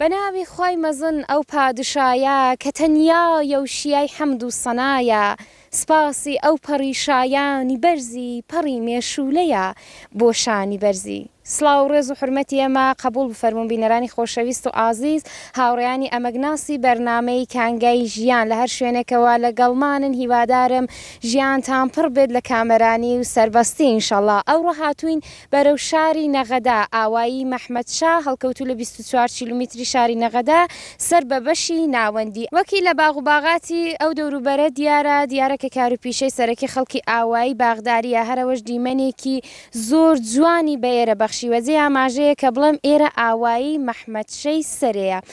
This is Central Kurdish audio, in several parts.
بە ناوی خوای مەزن ئەو پادشایە کە تەنیایە و شیای حەمد و سەنایە سپاسی ئەو پەڕی شایانی بەرزی پەڕی مێشوولەیە بۆ شانی بەرزی. سڵاو و ڕێز و حورمەتی ئێمە قەبووڵ بفەرموون بینەرانی خۆشەویست و ئازیز، هاوڕێیانی ئەمەگناسی بەرنامەی کانگای ژیان لە هەر شوێنێکەوە لەگەڵمانن هیوادارم ژیانتان پڕ بێت لە کامەرانی و سەربەستی انشاللە ئەوڕۆ هاتووین بەرەو شاری نەغەدە، ئاوایی مەحمەدشا هەڵکەوتوو لە بیست و چوار کیلومیتری شاری نەغەدە سەر بە بەشی ناوەندی. وەکی لە باغ و باغاتی ئەو دەوروبەرە دیارە، دیارە کە کار و پیشەی سەرەکی خەڵکی ئاوایی باغدارییە، هەر ئەوەش دیمەنێکی زۆر جوانی بە ئێرە بەخشیوە. جێی ئاماژەیە کە بڵێم ئێرە ئاوایی مەحمەدشەی سەرێیە.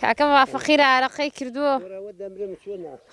کاکە وا فەقیرە ئارەقەی کردووە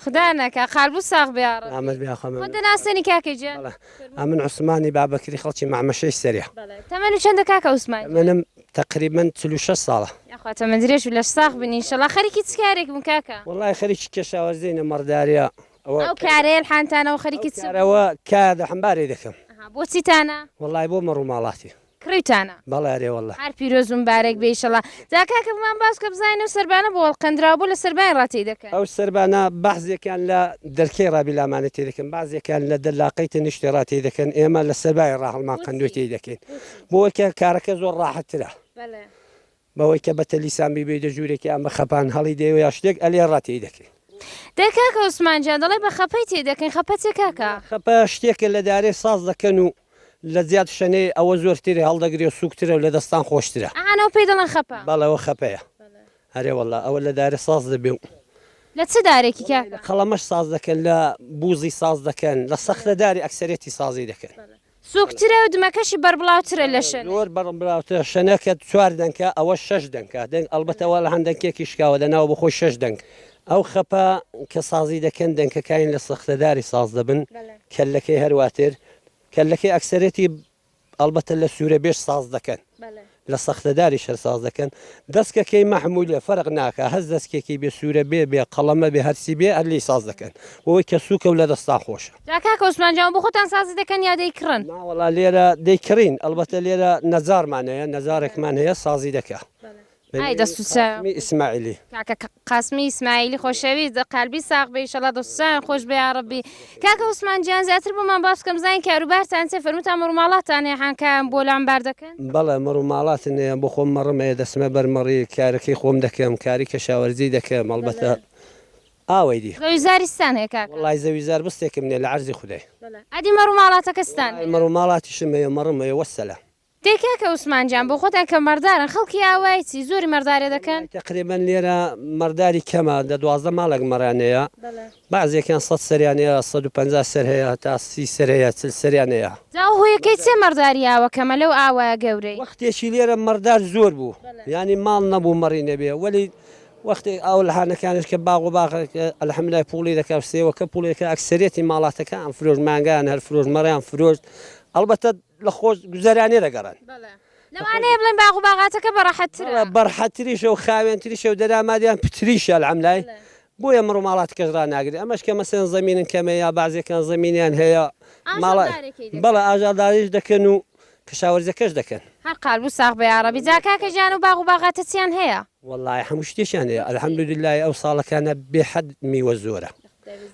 خودا نەکا قالبوو ساغ بێ یاڕەبی ئامەد بێ خۆ خۆت دەناسێنی کاکە گیان بەڵێ ئەمن عوسمانی بابەکری خەڵکی مەعمەشەی سەرێ بەڵێ تەمەنت چەندە کاکە عوسمان گیان تەمەنم تەقریبەن چل و شەش ساڵە یاخوا تەمەن درێژ و لەش ساغ بن ئینشەڵا خەریکی چ کارێک بوون کاکە وەڵای خەریکی کێشاوەزی نەمەڕداریە ئەوە ئەو کارەیە حانتانەوە خەریکی چ بوون ئەوە کارەوە کار دە حەمبارێ دەکەم ئەها بۆ چیتانە وەڵای بۆ مەڕوماڵاتی کڕیتانە؟ بەڵێ ئەرێ واللە. هەر پیرۆز و مبارەک بێ ئیشەڵا. جا کاکە بمان باس بکە بزانین ئەو سەربانە بۆ هەڵقەندراوە بۆ لە سەربانی ڕا تێی دەکەن؟ ئەو سەربانە بەعزێکیان لە دەرکەی ڕا بیلامانە تێی دەکەن بەعزێکیان لە دە لاقەی تەنیشتی ڕا تێی دەکەن ئێمە لە سەربای ڕا هەڵمان قەندووی تێی دەکەین بۆیکە کارەکە زۆر ڕاحەت ترە. بەلێ. بەوەی کە بە تەلیسان بیبەیتە ژوورێکی ئەم بە خەپان هەڵی دەی و یا شتێک ئەلێ ڕا تێی دەکەین. دەی کاکە عوسمان گیان دەڵێی بە خەپەی تێی دەکەین، خەپە چیە کاکە؟ خەپە شتێکە لە دارێ ساز دەکەن و لە جیات شەنێ ئەوە زۆر تێی هەڵدەگرێ و سووک ترە و لە دەستان خۆشترە. ئەعان ئەو پێی دەڵێن خەپە؟ بەڵێ ئەوە خەپەیە. ئەرێ وەڵا ئەوە لە دارێ ساز دەبێ و. لە چ دارێکی کاکە؟ لە قەڵەمەش ساز دەکەن، لە بووزی ساز دەکەن، لە سەختە داری ئەکسەرێتی سازی دەکەن. سووکترە و دمەکەشی بەربڵاوترە لە شەنێک. زۆر بەربڵاوترە شەنێکە چوار دەنکە ئەوەش شەش دەنکە دەنگ ئەڵبەتە وا لە هەند دەنکێکی شکاوە لە ناوە بۆ خۆی شەش دەنک ئەو خەپە کە سازی دەکەن دەنکەکانی لە سەختەداری ساز دەبن کەللەکەی هەرواتر کەللەکەی ئەکسەرێتی ئەڵبەتە لە سوورەبێژ ساز دەکەن لە سەختەداریش هەر ساز دەکەن. دەسکە کەی مەحمولە فەرق ناکا هەس دەسکێکی بێ سورە بێ بێ قەڵەمە بێ هەرچی بێ هەر لێی ساز دەکەن بۆوەی کە سوکە و لە دەستان خۆشە. جا کاک عوسمان جا بۆ خۆتان سازی دەکەن یا دەی کڕن؟ ناوەڵا لێرە دەی کڕین ئەڵبەتە لێرە نەجارمان هەیە نەجارێکمان هەیە سازی دەکا بە ئای دەست و نێوی چاوی قاسمی ئیسماعیلی. کاکە قاسمی ئیسماعیلی خۆشەویست قالبی ساغ بێ ئیشەڵا دەست و چاویان خۆش بێ یاڕەبی. کاکە عوسمان گیان زیاتر بۆمان باس بکە بزانین کاروبارتان چیە فەرموتان مەڕوماڵاتان هەیە حانکایان بۆ لامبار دەکەن؟ بەڵێ مەڕوماڵاتن هەیە بۆ خۆم مەڕم هەیە دەچمە بەر مەڕی کارەکەی خۆم دەکەم کاری کەشاوەرجی دەکەم ئەڵبەتە ئاوەی دی. زەوی زاری چتان هەیە کاکە؟ وەڵای زەوی زار بستێکم نیە لە عەرزی خودای. ئەدی مەڕوماڵاتەکە چتان هەیە؟ مەڕوماڵاتیشم هەیە مەڕم هەیە وەسەلام. دەی کاکە عوسمان گیان بۆ خۆتان کە مەڕدارن خەڵکی ئاوایی چی زۆری مەڕدارێ دەکەن؟ وەڵای تەقریبەن لێرە مەڕداری کەمە دە دوازدە ماڵێک مەڕیان هەیە بەعزێکیان سەد سەریان هەیە سەد و پەنجا سەر هەیە هەتا سی سەر هەیە چل سەریان هەیە. جا ئەو هۆیەکەی چیە مەڕداری ئاوە کەمە لەو ئاوایە گەورەی؟ وەختێکی لێرە مەڕدار زۆر بوو یانی ماڵ نەبوو مەڕی نەبێ وەلی وەختێک ئاو لە هانەکانیش کە باغ و باغ الحمدللە پوڵی دەکا و سێوەکە پوڵی دەکا ئەکسەریەتی ماڵاتەکان فرۆشت مانگایان هەر فرۆشت مەڕیان فرۆشت ئەڵبەتە لە خۆش گوزەرانێ دەگەڕێن. بەڵێ. لەوانەیە بڵێن باغ و باغاتەکە بە ڕەحەتترە. بەڵێ بە ڕەحەتتریشە و خاوێنتریشە و دەرامادیان پتریشە الحملای. بەڵێ. بۆیە مڕ و ماڵاتەکەش ڕاناگرێ. ئەمەش کە مەسەلەن زەمینن کەمە یا بەعزێکان زەمینیان هەیە ماڵا. ئاژەڵدارێکەی دەکەن. بەڵێ ئاژەڵداریش دەکەن و کشاوەرزەکەش دەکەن. هەر قال بوو ساغ بە یاڕەبی. جا کاکە گیان ئەو باغ و باغاتە چیان هەیە؟ وەڵای هەموو شتێکیان هەیە الحمدللە ئەو ساڵەکانە بێ حەد میوە زۆرە.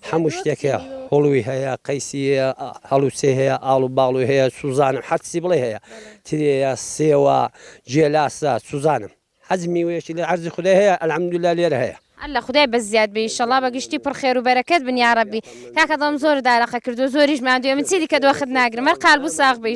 هەموو شتێک هەیە هوڵوی هەیە قەیسی هەیە هەڵوچەی هەیە ئاڵ و باڵوی هەیە سوزانم حەرچی بڵێ هەیە ترێە سێوە جێلاسە سوزانم حەج میوەیەکی لە عەرزی خودای هەیە الحمدللە لێرە هەیە. اللە خودای بەس زیاد بێ ئیشەڵا بە گشتی پڕ خێر و بەرەکەت بن یاڕەبی کاکە دڵم زۆرت ئارەقە کردوە زۆریش ماندووی من چیدیکە دۆخت ناگرم هەر قالبو ساغ بی.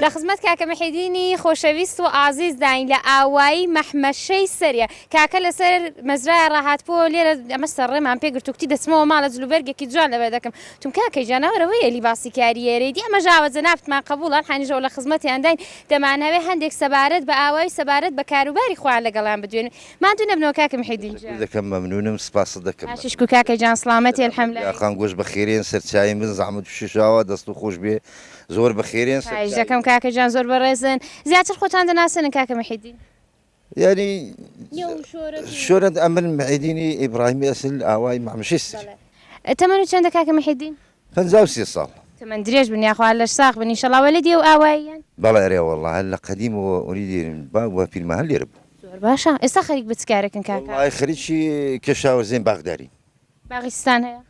لە خزمەت کاکە محێدینی خۆشەویست و ئازیز داین لە ئاوایی مەحمەشەی سەرێ کاکە لەسەر مەزرایە ڕاهاتبووەوە لێرە ئەمە سەرڕێمان پێ گرت و کوتی دەچمەوە ماڵە جلوبەرگێکی جوان لەبەر دەکەم وتم کاکە گیان ناوەرە وەی ئەلی باسی کاریەرەی دی ئەمەش ئاوە جەنابتمان قەبووڵە ئەم حەنیشەوە لە خزمەتیان داین دەمانەوێ هەندێک سەبارەت بە ئاوایی و سەبارەت بە کاروباری خۆیان لەگەڵیان بدوێین ماندوو نەبنەوە کاکە محێدین گیان. تەشەکور دەکەم مەمنونم سپاست دەکەم. باشی شکور کاکە گیان سڵامەتی الحمدللە. داخان گۆش بەخێرێن سەرچاوین بن زەحمەت و شەشاوە دەستو خۆشبێ زۆر بەخێرێن سەر خایش دەکەم کاکە گیان زۆر بەڕێزن زیاتر خۆتان دەناسێنن کاکە محێدین یاری شۆرت ئەمن محێدینی ئیبراهیمی ئەسل ئاوای مامشست تەمەن و چەندە کاکە محێدین پ سێ ساڵ تەمەن درێژ بن یاخوا لەش ساخ بن ئینشەڵاوە لە دیێ و ئاواییان بەڵێ رێ وەڵڵا هەر لە قەدیم و ئەوی دێرن با وە پیرمە هەر لێرە بوو زۆر باشە ئێستا خەریک بچکارەکەن کاکە خەریکی کێشاوە زێن باغداری باغستان هەیە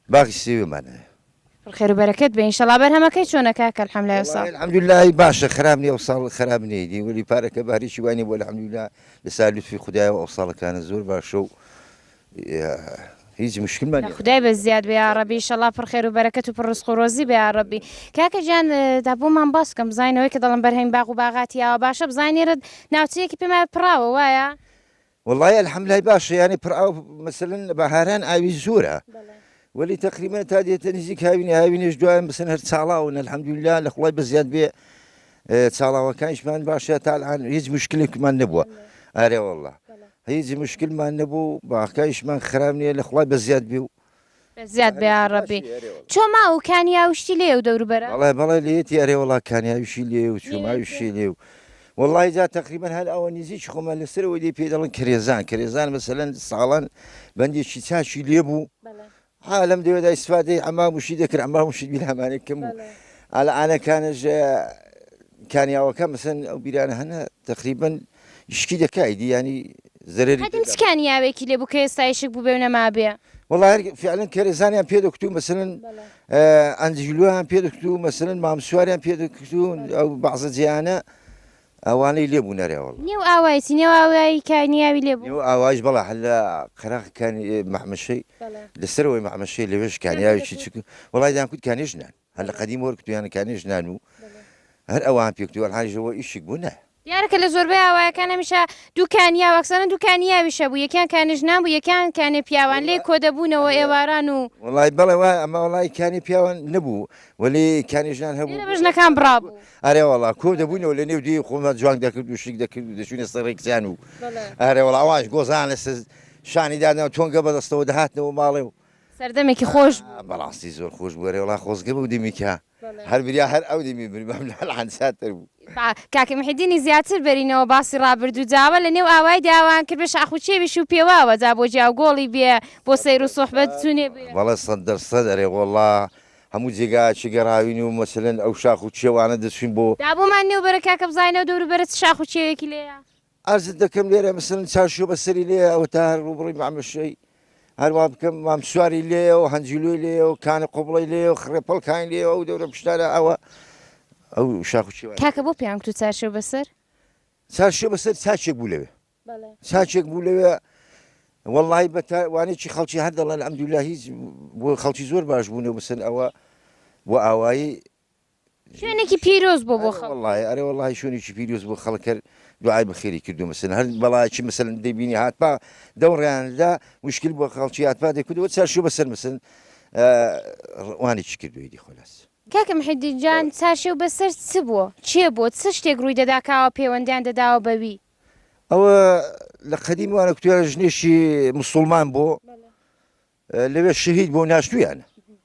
باغی سێوێ مان هەیە. پڕ خێرو بەرەکەت بێ ئینشەڵا بەرهەمەکەی چۆنە کاکە الحملای وەڵاهی ئەوساڵ. الحمدللە ی باشە خراپ نیە ئەوساڵ خراپ نیە ئیدی وەلی پارەکە بارێکی وای نیە بۆ الحمدللە لەسا لوتفی خودایەوە ئەوساڵەکانە زۆر باشە و هیچ مشکلمان نیە. خودای بەس زیاد بێ یاڕەبی ئیشەڵا پڕ خێرو بەرەکەت و پڕ ڕزق و ڕۆزی بێ یاڕەبی کاکە گیان دا بۆمان باس بکەن بزانین ئەوەی کە دەڵێن بەرهەمی باغ و باغاتی ئاوا باشە بزانین ئێرە ناوچەیەکی پێمان پڕاوە وایە؟ وەڵای الحمدللە باشە یانی پڕ ئاو مەسەلەن لە بەهاران ئاوی زۆرە وەلی تەقریبا تا دێتە نزیک هاوینی هاوینێش دوایان بسن هەر چاڵاون الحمدللە لە خوڵای بەزیاد بێ چاڵاوەکانیشمان باشە تا الان هیچ مشکلێکمان نەبووە ئارێ والله هیچ مشکلمان نەبوو باخکایشمان خراب نییە لە خوڵای بەزیاد بێ و زیاد بێ یاڕەبی چۆ ما و کانیاوشتی لێ و دەوروبەرە بەڵێ بەڵێ لێتی ئەرێ وڵا کانیاویشی لێ و چوماویشی لێ و وڵی جا تقریبان هەر ئەوە نزیک خۆمان لەسەرەوە لێ پێ دەڵن کرێزان کرێزان مەسەلەن ساڵان بەندێکی چاشی لێ بوو عالم دەوێدا ئیسفادەی ئەما وشی دەکرد ئەما وشی بیرهمانێک کەم بوو ئالە ئاەکانش کانیاوەکە مەسن ئەو بیرانە هەنە تقریبن یشکی دەکا ئیدی یانی زەرەری ئەدم چ کانیاوێکی لێ بوو کە ئێستا یشک بووبێ و نەمابێ؟ وەڵا هەر فعلەن کەرێزانیان پێ دەکوت و مەسەلەن ئەنجلویان پێ دەکوت و مەسەلەن مامسواریان پێ دەکوت و ئەو بەعزە جیانە ئەوانەی لێ بوو نەرێوەڵ نێو ئاوایەتی نێو ئاوایی کانیاوی لێ بوو ئەو ئاواش بەڵا هەر لە قەراخەکانی مەحمەشەی لەسەرەوەی مەحمەشەی لەوێش کانیاوێکی چک وەڵای دەیان کوت کانێژنان هەر لە قەدیم وەرکتو یان کانی ژنان و هەر ئەوان پێکتو و ئەلهان ژەوە ئیشیک بوو نە. دیارە کە لە زۆربەی ئاوایەکان هەمیشە دوو کانی ئاو ئەکسەرەن دوو کانی ئاویش هەبوو یەکیان کانی ژنان بوو یەکیان کانی پیاوان لێ کۆ دەبوونەوە ئێواران و. وەڵای بەڵێ وایە ئەما وەڵای کانی پیاوان نەبوو وەلی کانی ژنان هەبوو. لێرە بە ژنەکان بڕابوو. ئەرێ وەڵا کۆ دەبوونەوە لە نێو دێی خۆمان جوانگ دەکرد و شیک دەکرد و دەچوینە سەر ڕێکچیان و ئەرێ وەڵا ئەوانیش گۆزانە سەر شانی دادەنەوە تۆنگە بەدەستەوە دەهاتنەوە ماڵێ و سەردەمێکی خۆش بوو. ئا بەڕاستی زۆر خۆش بوو ئەرێ وەڵا خۆزگە بەو دەمیکە بەڵێ. هەر بریا هەر ئەو دەمی بمربام لە ئەلان ساتر بوو. با کاک محێدینی زیاتر بەرینەوە باسی ڕابردوو جاوە لە نێو ئاوایی داوان کرد بێ شاخ و چێویش و پێواوە جا بۆ جا و گۆڵی بێ بۆ سەیر و سوحبەت چونێ بێ. بەڵێ سەد دەر سەد ئەرێ وەڵا هەموو جێگایەکی گەڕاوین و مەسەلەن ئەو شاخ و چێوانە دەچووین بۆ. دابوومان نێو بەرە کاکە بزانینەوە دەوروبەرە چ شاخ و چێوێکی لێیە. عەرزت دەکەم لێرە مەسەلەن چارشۆ بە سەری لێیە ئەوە تا هەر ڕووبڕی مامەشەی هەروا بکەم مام سواری لێیە و هەنجلوی لێیە و کانە قوبڵی لێ و خڕێ پڵکانی لێ ئەو دەورە پشتانە ئەوە ئەو شاخ و چێوان کاکە بۆ پێیان گوتو چارشۆ بەسەر؟ چارشۆ بەسەر چاچێک بوو لەوێ چاچێک بوو لەوێ وەڵی بە وانێکی خەڵکی هەر دەڵێن ئەمدولا هیچ بۆ خەڵکی زۆر باش بوونە بسن ئەوە بۆ ئاوایی شوێنێکی پیرۆز بوو بۆ خەڵک. ئەرێ وەڵاهی ئەرێ وەڵاهی شوێنێکی پیرۆز بوو خەڵک هەر دوعای بەخێری کردوو مەسەلەن هەر بەڵایەکی مەسەلەن دەیبینی هاتپا دەو ڕێیان دا مشکل بۆ خەڵکی هاتپا دەکردەوە چا شوو بەسەر مەسەلەن وانێکی کردووی دی خۆلاس. کاکە محێدین جان چارشێو بەسەر چ بووە کێ بووە چ شتێک ڕووی دەدا کاوە پێوەندیان دەداوە بە وی؟ ئەوە لە قەدیم وانە کوتوێ ژنێکی مسوڵمان بوو لەوێ شەهید بوو ناشتوویانە.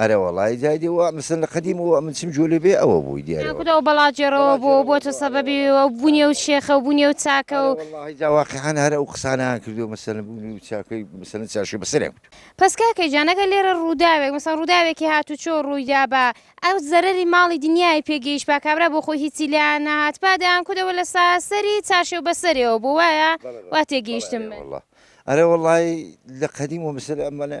ئەرە وەڵای جای دی وە مسن لە قەدیم وە من چم جۆلی بێ ئەوە بووی دیارە وە. خوداو بەڵا جێڕەوە بۆ بۆتە سەبەبی ئەو بونی ئەو شێخەو بونی ئەو چاکەو. ئەرە وەڵاهی جا واقیعەن هەر ئەو قسانەیان کردوە مەسەلەن بونی ئەو چاکەی مەسەلەن چارشێو بەسەریان کەوتوە. پەس کاکە گیان ئەگەر لێرە ڕوداوێک مەسەڵەن ڕوداوێکی هاتوچۆ ڕویدابا ئەو زەرەری ماڵی دنیای پێ گەیشتبا کابرا بۆ خۆی هیچی لێیان نەهاتبا دەیان کردەوە لە سەری چارشێو بەسەرێوە بۆ وایە وا تێگەیشتم من. بەڵێ ئەرێ وەڵا ئەرێ وەڵای لە قەدیم وە مسەلەن ئەمانە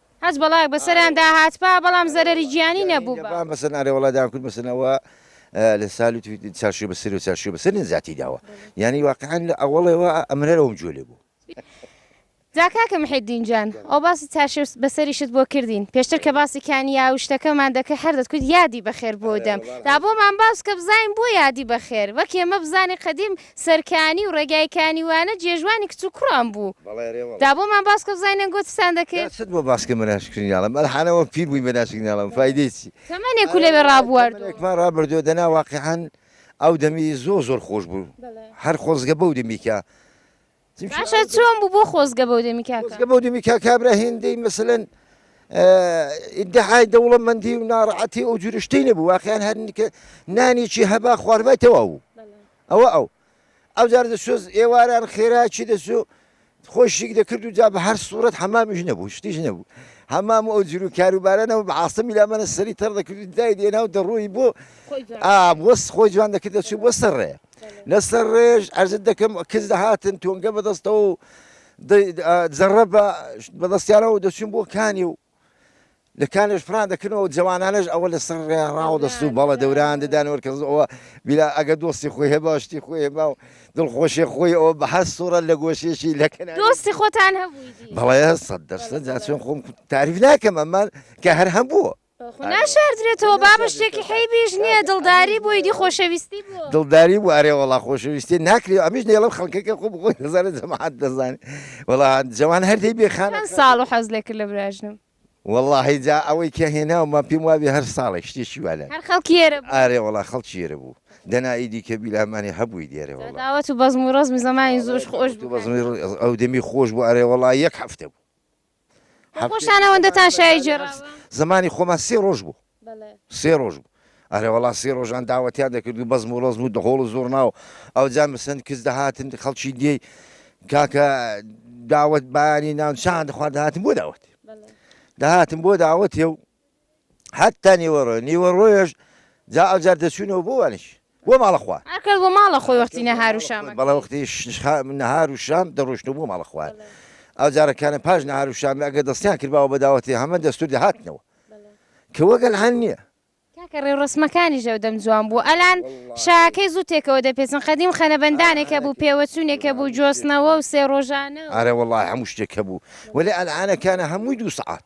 هەچ بەڵایەک بەسەریان داهاتبا بەڵام زەرەری گیانی نەبووبا. جا کاکە محێدین جان ئەو باسی چارشێو بەسەریشت بۆ کردین پێشتر کە باسی کانیاو شتەکەمان دەکرد هەر دەتکوت یادی بەخێر بۆ دەم دا بۆمان باس بکە بزانین بۆ یادی بەخێر وەک ئێمە بزانین قەدیم سەرکانی و ڕێگای کانی وانە جێژوانی کچ و کوڕان بوو دا بۆمان باس بکە بزانین ئەنگۆ چتان دەکرد. چت بۆ باس کەمە ناشی کریناڵە مەلا حانا وە پیر بووین بە ناشی کریناڵە فایدەی چی. تەمەنێک و لەوێ ڕابواردووە. تەمەنێکمان ڕابردووە دەنا واقیعەن ئەو دەمی زۆر زۆر خۆش بوو هەر خۆزگە بەو دەمی کە. باشە چۆن بوو بۆ خۆزگە بەو دەمی کاکە؟ خۆزگە بەو دەمی کاکابرا هێندەی مەسەلەن ئیدعای دەوڵەمەندی و ناڕەحەتی ئەو جورە شتەی نەبوو واقعیان هەر کە نانێکی هەبا خواردبای تەواو بوو ئەوە ئەو ئەو جار دەسۆز ئێواران خێراکی دەسوو خۆشیک دەکرد و جا بە هەر سوورەت حەمامیش نەبوو شتیش نەبوو هەمام و ئەو جور و کاروبارانەوە بە عاستەمی لامانە سەری تەڕ دەکرد دای دێنا و دەڕۆی بۆ ئاوەست خۆی جوان دەکرد دەچوو بۆ سەر ڕێ لەسەر ڕێژ ئەرزت دەکەم کز دەهاتن تۆنگە بەدەستەوە و زەڕە بە بەدەستیانەوە دەچون بۆ کانی و لە کانێش فران دەکردەوە جوانانش ئەوە لە سەر ڕێڕاوە دەست و بەڵە دەوران دەدان وەرکەزەوە بیلا ئەگە دۆستی خۆی هەیە باشتی خۆی هێما و دڵخۆشی خۆی ئەوە بە هەر سوڕە لە گۆشێکی لەکەن دۆستی خۆتان هەبوو بەڵێ سەد دەستە جاچۆن خۆم تاریف ناکەم ئەمان کە هەر هەبووە ناشاردرێتەوە بابە شتێکی حەیبیش نییە دڵداری بووی دی خۆشەویستی بوو دڵداری بوو ئەرێ وەڵا خۆشەویستی ناکری ئەمیش نێڵم خەڵکەکە خۆ بخۆی دەزانێت جەماعەت دەزانێت وەڵا جەوان هەر دەی بێ خان چەند ساڵ و حەز لێ کرد لە براژنم وەڵاهی جا ئەوەی کە هێناومان پێم وابێ هەر ساڵێک شتێکی وا لای هەر خەڵکی ئێرە بوو ئارێ وەڵا خەڵکی ئێرە بوو دەنا ئیدی کە بیلامانی هەبووی دێرێ وەڵا داوەت و بەزم و ڕەزمی زەمانی زۆش خۆش بوو بەزمی ڕ- ئەو دەمی خۆش بوو ئارێ وەڵا یەک هەفتە بوو بۆ خۆشتان ئەوەندەتان شای گێڕاوە؟ زمانی خۆمان سێ ڕۆژ بوو. بەڵێ. سێ ڕۆژ بوو. ئەرێ وەڵا سێ ڕۆژان داوەتیان دەکرد و بەزم و ڕەزم و دەهۆڵ و زوڕنا و ئەوجا مسن کز دەهاتن خەڵکی دێی کاکە داوەت بایانی نان چایان دەخوارد دەهاتن بۆ داوەت. بەڵێ. دەهاتن بۆ داوەتێ و هەتا نیوەڕۆ، نیوەڕۆیش جا ئەوجار دەچوونەوە بۆ وانیش بۆ ماڵە خوا. ئەکرد بۆ ماڵە خۆی وەختی نەهار و شام. بەڵێ وەختی نەهار و شام دەڕۆیشتەوە بۆ ماڵە خوا. ئەو جارەکانە پاش نەهار و شام ئەگەر دەستیان کردباوە بە داوەتی هەمە دەستوور دەهاتنەوە کە وەک ئەلهان نییە. کاکە ڕێوڕەسمەکانیش ئەو دەم جوان بوو. ئەلان شاکەی زوو تێکەوە دەپێچن. قەدیم خەنەبەندانێک هەبوو، پێوەچوونێک هەبوو، جۆستنەوە و سێ ڕۆژانە و. ئەرێ وەڵڵاهی هەموو شتێک هەبوو. وەلێ ئەلهانەکانە هەمووی دوو سەعات.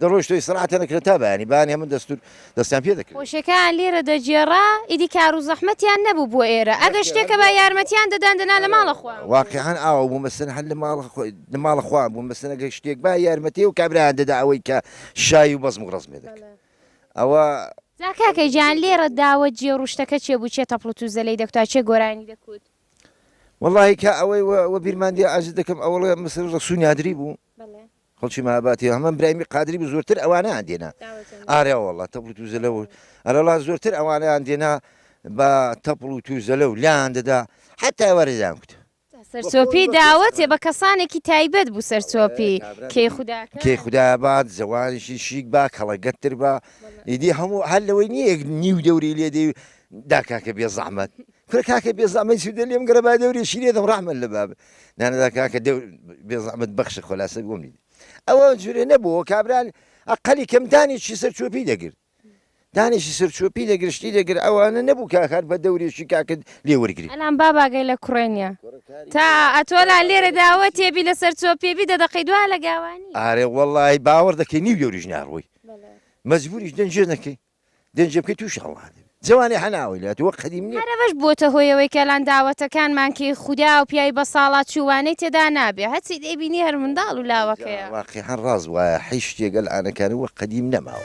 دەڕۆیشت و ئیستراحەتیان دەکرد تا بەیانی، بەیانی هەموو دەستوور دەستیان پێ دەکرد. خۆشیەکەیان لێرە دەگێڕا، ئیدی کار و زەحمەتیان نەبوو بۆ ئێرە، ئەگەر شتێک هەبا یارمەتیان دەدان دەنا لە ماڵە خوا. واقیعەن ئاوا بوو، مەسەلەن هەر لە ماڵە خوا بوو، مەسەلەن ئەگەر شتێک با یارمەتی ئەو کابرایان دەدا ئەوەی کە شای و بەزم و ڕەزم لێ دەکرد. ئەوە. جا کاکە گیان لێرە داوە جێڕ و شتەکە چێ بوو، چێ تەپڵ و تووزە لێی دەکوتا، چێ گۆرانی دەکوت؟ وەڵاهی کە ئەوەی وە بیرمان دێ عەرزت دەکەم ئەوەڵێ مەسەلەن ڕەسوو نادری بوو، خەڵکی مەهابادی هەمان برایمی قادری بوو زۆرتر ئەوانەیان دێنا ئارا وەڵا تەپڵ و توزەلە و ئەرەڵا زۆرتر ئەوانەیان دێنا بە تەپڵ و توزەلە و لایان دەدا حتا وەرزان کوتە سەرچۆپی داوەتێ بە کەسانێکی تایبەت بوو سەرچۆپی کەی خودا بات زەوانشی شیک با کەڵە گەتتر بە ئیدی هەموو هەر لەوەی نییە نیو دەوری لێدەی داکاکە بێ زەحمەت کورە کاکە بێزەحمەت سوودە لێم گەڕێ با دەورێ شیرێتم ڕەحمەت لە باب نانەدا کاکە بێزەحمەت بەخشە خۆلاسە بۆم نیت ئەوە جورێ نەبووە کابرا ئەقلی کەم دانێکی سەر چۆپی دەگرت دانێکی سەر چۆپی دەگرشتی دەگر ئەوانە نەبوو کاکار بە دەورێکی کاکرد لێ وەرگری ئەلان باباگەی لە کوڕێ نیە تا ئەتۆلا لێرە داوە تێبی لەسەر چۆپێبی دە دەقەی دوا لە گاوانی ئارێ وەڵی باوەڕ دەکەی نیو دەوریش ناڕۆی مەجبوریش دەنجێ نەکەی دەنجە بکەی تووشی هەڵا دەبی جوانی حەناوی لە تۆ قەدیم نیە. هەر ئەوەش بووەتە هۆی ئەوەی کە لان داوەتەکانمان کەی خودا و پیاوی بەساڵاچ چوو وانەی تێدا نابێ هەرچی دەیبینی هەر منداڵ و لاوەکەیە. واقیحەن ڕاست وایە حەیش شتێک ئەل عانەکانی وەک قەدیم نەماوە.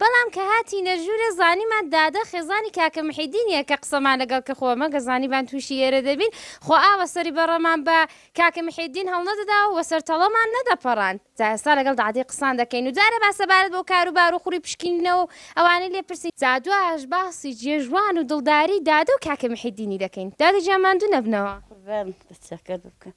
بەڵام کە هاتینە ژوورێ زانیمان دادە خێزانی کاکە محێدینیە کە قسەمان لەگەڵ کرد خۆ مەگە زانیبان تووشی ئێرە دەبین خۆ ئاوە سەری بەڕەمان بە کاکە محێدین هەڵنەدەدا و وەسەر تەڵەمان نەدەپەڕاند جا ئێستا لەگەڵ دادەی قسان دەکەین و جارێ با سەبارەت بەو کارو بارو خوری پشکینینەوە و ئەوانەی لێ پرسین جا دوایەش باسی جێژوان و دڵداری دادە و کاکە محێدینی دەکەین دادە گیان ماندوو نەبنەوە. قوربان بەچەکەت بکەم.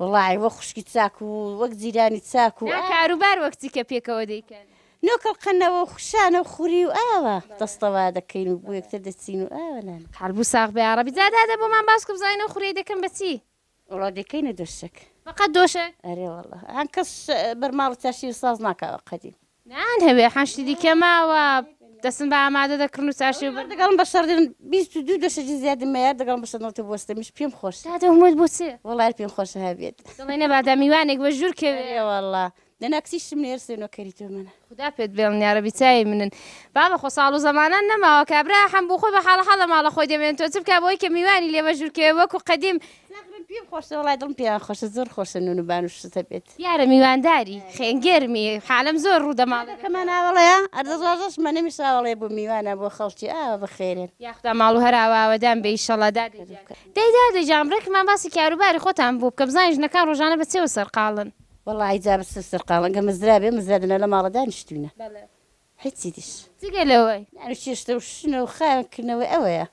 وەڵاهی وەک خوشکی چاک و وەک جیرانی چاک و ئاوا. نا کاروبار وەک چی کە پێکەوە دەیکەن؟ نۆکەڵ قەنەوە و خشانە و خوری و ئاوا دەستەوا دەکەین و بۆ یەکتر دەچین و ئاوا لانە. قەربوو ساغ بە یاڕەبی. جا دادە بۆمان باس بکە بزانین ئەو خوریەی دەکەن بە چی؟ وەڵا دەیکەینە دۆشەک. فەقەت دۆشەک؟ ئەرێ وەڵا. هەنکەس بەرماڵ و چەرشیل ساز ناکا وەک قەدیم. نان هەوێ حەشتی دیکە ماوە دەسم بە ئامادە دەکڕن و چارشێو بەر دەگەڵم بە شەڕدن بیست و دوو دەشەجی زیادم مەیار دەگەڵم بە شەنەڵتە بۆستەمیش پێم خۆش دادە هەمووت بۆ چێ وەڵای پێم خۆش هەبێت دڵی نەبادا میوانێک بە ژوور کەوێ ئێ وەڵا دەنا کچیشتم نێرسێ نۆکەری تۆ منە خودا پێت بێڵن یارەبی چاوی منن بابە خۆ ساڵ و زەمانان نەماوە کابرا حەم بۆ خۆی بە حاڵە حاڵە ماڵە خۆی دەمێن تۆ چ بکا بۆی کە میوانی لێ بە ژوور کەوێ وەکو قەدیم زغرم پیم خۆشە وەڵای دڵم پێیان خۆشە زۆر خۆشە نون و بان و شتە بێت. دیارە میوانداری خێن گێرمی حالم زۆر ڕوو دەماڵ دەکەم. کەمان ئاوەڵەیە ئەردەست ڕاژەش مە نەمیش ئاوەڵەیە بۆ میوانە بۆ خەڵکی ئاوا بەخێرێن. یاخودا ماڵ و هەر ئاوا ئاوەدان بێ ئیشەڵا دادە گیان. دەی دادە گیان بڕێ کەمان باسی کاروباری خۆتان بۆ بکە بزانین ژنەکان ڕۆژانە بە چێوە سەرقاڵن. وەڵاهی جا بە چێو سەرقاڵن گەر مەزرا بێ مەزرا دەنا لە ماڵە دانیشتوینە. هیچی دیش. جگە لەوەی. ناوی چێشتە و شنە و خاوێن کردنەوەی ئەوەیە.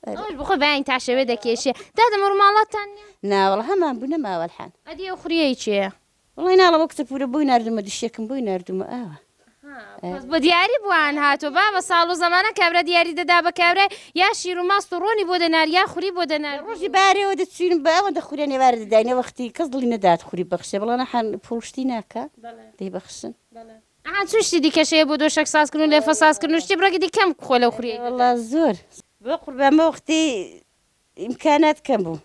ئەوەش بخۆ بەیانی تا شەوێ دەکێشێ. دادە مەڕ ماڵاتتان نیە؟ نا وەڵا هەمان بوو نەماوە الحان. ئەدی ئەو خوریەی کێیە؟ وەڵای ناڵێم ئەو کچە پورە بۆی ناردومە دشتێکم بۆی ناردومە ئاوا. ئەها بەس بۆ دیاری بوان هاتوە بابە ساڵ و زەمانە کابرا دیاری دەدا بە کابرای یا شیر و ماست و ڕۆنی بۆ دەنارد یا خوری بۆ دەنارد. ڕۆژی بارێوە دەچوین بە ئەوەندە خوریان ئێوارە دەداین ئەوەختی کەس دڵی نەدات خوری ببەخشێ بەڵام حان پوڵ شتی ناکا دەیبەخشن. ئەها چ شتی دیکەش هەیە بۆ دۆشەک سازکردن و لێفە سازکردن و شتی بڕێکی دیکە کەم بخۆ لەو خوریەی دەرەوە. وەڵا زۆر بەقوربان بەوەختەی ئیمکانات کەم بوو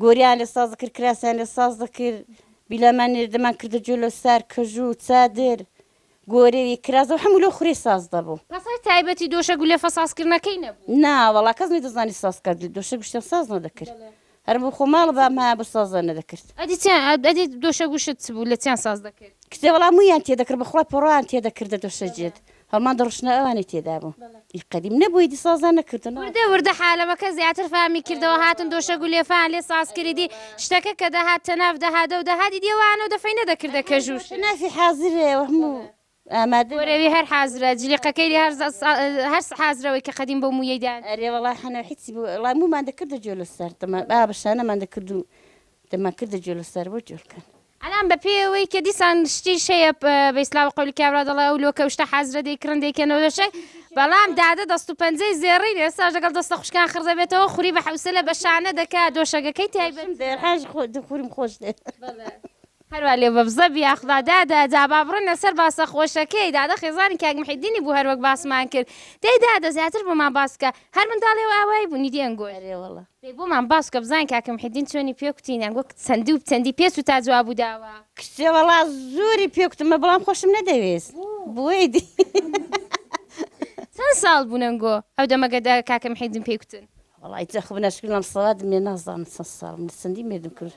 گۆریان لێ ساز دەکرد کراسیان لێ ساز دەکرد بیلامان نێرد دەمان کردە جۆلەسار کەژو چادر گۆری و کراس و هەموو لەو خوری ساز دەبوو. پس هەر تایبەتی دۆشەک و لێفە سازکردنەکەی نەبوو. نا وەڵا کەس نەیدەزانی ساز بکات دۆشەک و شتێ ساز نەدەکرد هەر بۆ خۆ ماڵ بام ها بە سازە نەدەکرد. ئەدی چیان ئەد ئەدی دۆشە گوشت چ بوو لە چیان ساز دەکرد؟ کچێ وەڵا موویان تێ دەکرد بە خوا پۆڕان تێ دەکردە دۆشە جێت هەڵمان دەڕشنا ئەوانەی تێدا بوو ئی قەدیم نەبوو ئیدی سازان نەکردن. وردە وردە حالەمەکە زیاتر فامی کردەوە هاتن دۆشە گولێفەیان لێ ساز کرد ئیدی شتەکە کە دەهات تەناف دەهات ئەو دەهات ئیدی ئەوانەو دەفەی نەدەکردە کەژو شت. تەنافی حازرە وە هەموو ئامادە وەرەوی هەر حازرە جلیقەکەی لێ هەر هەر حازرەوەی کە قەدیم بۆ مویەی دان. ئەرێ وەڵا حەنە حیچی بۆ وەڵا مومان دەکردە جۆ لەسەر دەما با بە شانەمان دەکرد و دەمان کردە جۆ لەسەر بۆ جۆ کەن. ئەلان بە پێی ئەوەی کە دیسان شتیش هەیە بە ئیسلاوە قەولی کابرا دەڵێ ئەو لۆکە و شتە حازرە دەیکڕن دەیکەنەوە لە شەک بەڵام دادە دەست و پەنجەی زێڕین ئێستاش دەگەڵ دەستە خوشکان خڕ دەبێتەوە خوری بە حەوسەلە بە شانە دەکا دۆشەگەکەی تایبەت. دەرحاج خۆ دخورم خۆش دێ. بەڵێ. هەروا لێ بە بزە بیاخدا. دادە جا با بڕنە سەر باسە خۆشەکەی. دادە خێزانی کاک محێدینی بوو هەروەک باسمان کرد. دەی دادە زیاتر بۆمان باس بکە. هەر منداڵی ئەو ئاوایی بوو نیدی ئەنگۆی. ئەرێ وەڵا. دەی بۆمان باس بکە بزانین کاک محێدین چۆنی پێ کوتین ئەنگۆ چەندی و چەندی پێ چوو تا جواب و داوا. کچێ وەڵا زۆری پێ کوتمە بەڵام خۆشم نەدەوێست بۆی دی. چەند ساڵ بوون ئەنگۆ ئەو دەمە گەدە کاک محێدین پێی کوتن؟ وەڵای جا خۆ بناشکرین لەم سەڵا دمێ نازانم چەند ساڵ بوون چەندی مێردم کرد.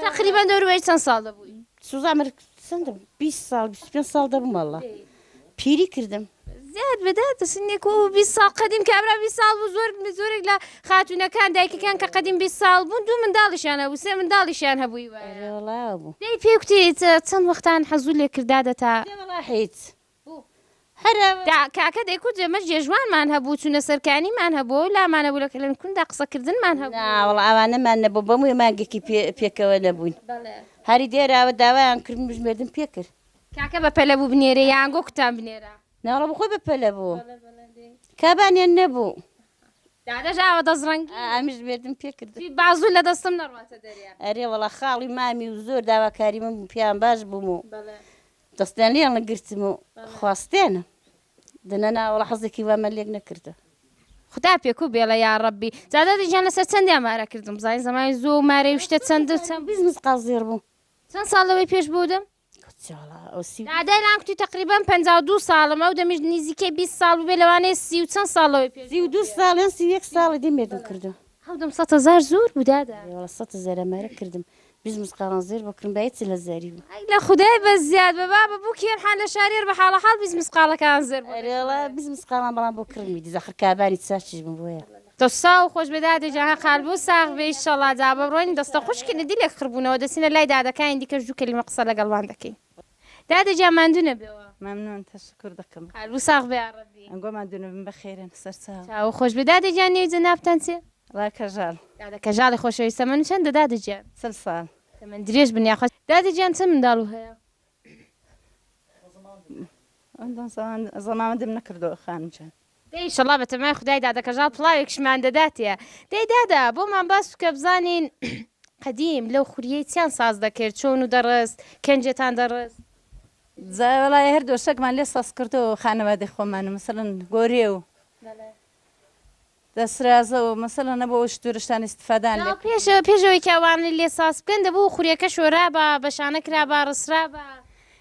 تقریبا دەوروبەری چەند ساڵ دەبووی سوزان من چەندم 20 ساڵ 25 ساڵ دەبووم واللە پیری کردم زیاد بەدا تەسنێک و 20 ساڵ قەدیم کابرا 20 ساڵ بوو زۆر زۆرێک لە خاتونەکان دایکەکان کە قەدیم 20 ساڵ بوون دوو منداڵیشیان هەبوو سێ منداڵیشیان هەبووی وایە ئەرێ وەڵا بوو دەی پێکوتێت چەند وەختان حەزوو لێکردادە تا دێ وەڵا حیچ بوو هەرە دا کاکە دەیکوت ئێمەش جێژوانمان هەبوو چونە سەرکانیمان هەبوو ئەو لامان هەبوو لە کەلەنکوندا قسەکردنمان هەبوو. ناوەڵا ئەوانەمان نەبوو بە مووی مانگێکی پێ پێکەوە نەبووین هەری دێراوە داوایان کردم بژمێردم پێ کرد. کاکە بە پەلە بوو بنێرێ یان گۆکتان بنێرا؟ ناوەڵا بەخۆی بە پەلە بوو کابانیان نەبوو. دادەش ئاوە دەست ڕەنگی. ئا ئەمیش ژمێردم پێ کرد. جی بازوو لە دەستم نەڕواتە دەرێ. ئەرێ وەڵا خاڵی مامی و زۆر داواکاری من بوو پێیان باش بووم و دەستیان لێیان گرتم و خواستێنم دەنا ناوەڵا حەزێکی وامە لێک نەکردە. خودا پێکو بێڵە یا ڕەبی زادە دەجان لەسەر چەندیان مارە کردم زای زمانی زۆ و مارەی شتە چەند و چەند بزنس قازێر بوو چەند ساڵ لەوەی پێش بودم دادای لان کوتی تقریبان پ دوو ساڵم ئەو دەمیش نزیکەی بیست ساڵ بووێ لەوانەیە سی و چەند ساڵەوەی پێ سی و دوو ساڵیان سی یەک ساڵی دەمێدم کردو هەودەم سەتە زار زۆر بوو دادە. ئەرێ وەڵا سەتە زارە مەرە کردم بیست مسقاڵان زێر بۆ کڕم بایەت سلە زاری بوو. ئەک لە خودای بەس زیاد بە بابە بو کێر حان لە شاریەر بە حاڵە حاڵ بیست مسقاڵە کان زێر بۆ دەچێ. ئەرێ وەڵا بیست مسقاڵان بەڵام بۆ کڕمی دز ئەخر کابانی چار چش بم بۆیە. دەساو خۆش بێ دادە گیان هە قال بو ساغ بێ ئیشەڵا جا بە ڕۆین دەستە خوشکینە دیلێک خڕ بونەوە دەچینە لای دادە کانی دیکەش دو کەلیمە قسە لە گەڵ وان دەکەین. دادە گیان ماندوو نەبەوە. مەمنون تەشەکور دەکەم. قەلبو ساغ بێ یاڕەبی. ئەنگۆ ماندوو نەبن بەخێرن سەرچاو. چاوو خۆش بێ دادە گیان نێوی جەنابتان چیە؟ ڵا کەژاڵ. دادە کەژاڵی خۆشەویست تەمەن چەندە دادە گیان؟ چل ساڵ. تەمەن درێژ بن یاخوا. دادە گیان چەند منداڵو هەیە؟ زەماوەندم نەکردوە خانم گیان. دەی ئیشەڵا بە تەمای خودای دادە کەژاڵ پڵاوێکشمان دەداتێ دەی دادە بۆمان باس بکە بزانین قەدیم لەو خوریەی چیان ساز دەکرد چۆن و دەڕست کەنجێتان دەڕست؟ جا وەڵای هەر دۆشەکمان لێ ساز کردووە خانەوادەی خۆمان و مەسەڵەن گۆرێ و دەسرازە و مەسەڵەن ئەبوو ئەو شتورشتان ئیستفادەیان لێ کردووە. پێش پێش ئەوەی کە ئەوانە لێ ساز بکەن دەبوو خوریەکە شۆرابا بەشانە کرابا ڕسرابا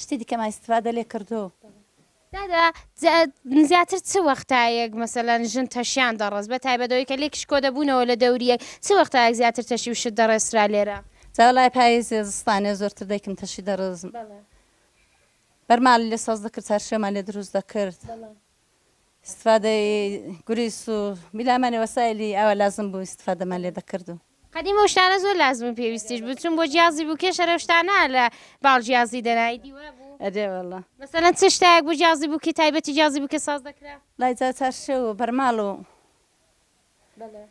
شتی دیکەمان ئیستفادە لێ کردو. دادە زیاتر چ وەختایەک مەسەلەن ژن تەشیان دەڕست بە تایبەت ئەوەی کە لێکیش کۆ دەبوونەوە لە دەوریەک چ وەختایەک زیاتر تەشی و شت دەڕێسرا لێرە؟ جا وەڵای پاییزێ زستانێ زۆرتر دایکم تەشی دەڕست بەرماڵی لێ سەوز دەکرد چارشێومان لێ دروست دەکرد ئیستفادەی گوریس و بیلامانی وەسایلی ئاوا لازم بوو ئیستفادەمان لێ دەکردو. قەدیم ئەو شتانە زۆر لازم و پێویستیش بوو چون بۆ جیازی بوو کێ شەرە شتانە لە باڵ جیازی دەنای دیوە بوو ئەدێ واللە مەسەلەن چ شتایەک بوو جیازی بوو کە تایبەتی جیازی بوو کە ساز دەکرا لای جا چارشێو و بەرماڵ و بەلێ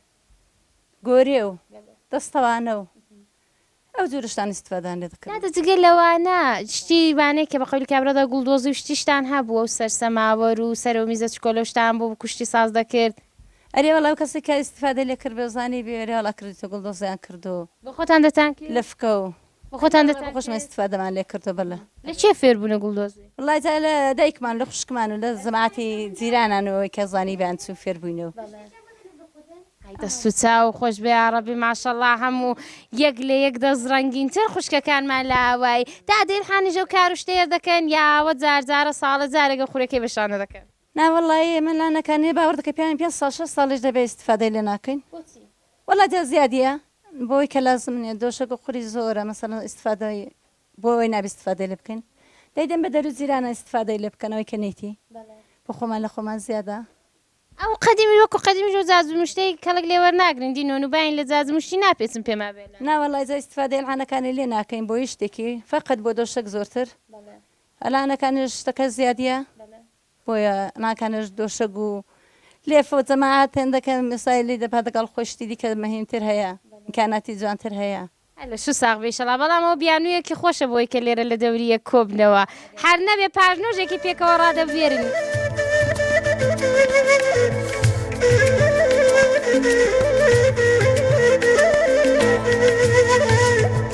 گۆرێ و بەلێ دەستەوانە و ئەو جۆرە شتان ئیستفادەیان لێ دەکرد نادە جگە لەوانە شتی وانەیە کە بە قەولی کابرادا گوڵدۆزی و شتی شتان هەبوو و سەر سەماوەر و سەر و میزە چکۆلە و شتان بۆ کوشتی ساز دەکرد. ئەرێ وەڵا ئەو کەسەی کە ئیستیفادەی لێ کردبێ و زانیبێ ئەرێ وەڵا کردیتە گوڵ دۆزیان کرد و بۆ خۆتان دەتانکێ؟ لە فکە و بۆ ئەرێ خۆتان وەڵا بۆ خۆشمان دەتانکێ؟ ئیستیفادەمان لێ کردوە بەلە. لە کێ فێر بوونە گوڵ دۆزی؟ وەڵا جا لە دایکمان و لە خوشکمان و لە جەماعەتی جیرانان و ئەوەی کە زانیبێیان چوو فێر بووینەوە. ئای دەست و چاو خۆش بێ یاڕەبی ماشەڵا هەموو یەک لە یەک دەست ڕەنگین تر خوشکەکانمان لە ئاوایی تا دەیرحانیش ئەو کار و شتەیە دەکەن یا ئاوە جار جارە ساڵە جارێک ئەو خورەکەی بە شانە دەکەن؟ نا وەڵا ی ئێمە لا نەکانێ باوەڕ دەکەی پیاوین پێنج ساڵ شەش ساڵیش دەبێ ئیستفادەی لێ ناکەین بۆچی؟ وەڵا جا زیادیە بۆی کە لازم نیە دۆشەک و قوری زۆرە مەسەلەن ئیستفادەی بۆ ئەوەی نابێ ئیستفادەی لێ بکەین دەیدەن بە دەرو جیرانە ئیستفادەی لێ بکەن ئەوەی کە نەیتی بۆ خۆمان لە خۆمان زیادە. ئەو قەدیمیش وەکو قەدیمیش و جاج مشتەی کەڵک لێ وەرناگرن دی نۆن و باین لە جاج مشتی ناپێچن پێما بێلە. نا وەڵا جا ئیستفادەی ئەلعانەکانی لێ ناکەین بۆ یش تێکی فەقەت بۆ دۆشەک زۆرتر ئەلا نەکانێش شتەکە زیادیە بۆیە ناکانێش دۆشەگ و لێفە و جەماعات هێندە کە مسای لی دەپا دەگەڵ خۆی شتی دیکە مەهیمتر هەیە ئیمکاناتی جوانتر هەیە. اللە شو ساغ بی شەڵا بەڵام ئەوە بیانویەکی خۆشە بۆی کە لێرە لە دەوری یەک کۆبنەوە هەر نەبێ پاژنۆژێکی پێکەوە ڕادەبوێرن.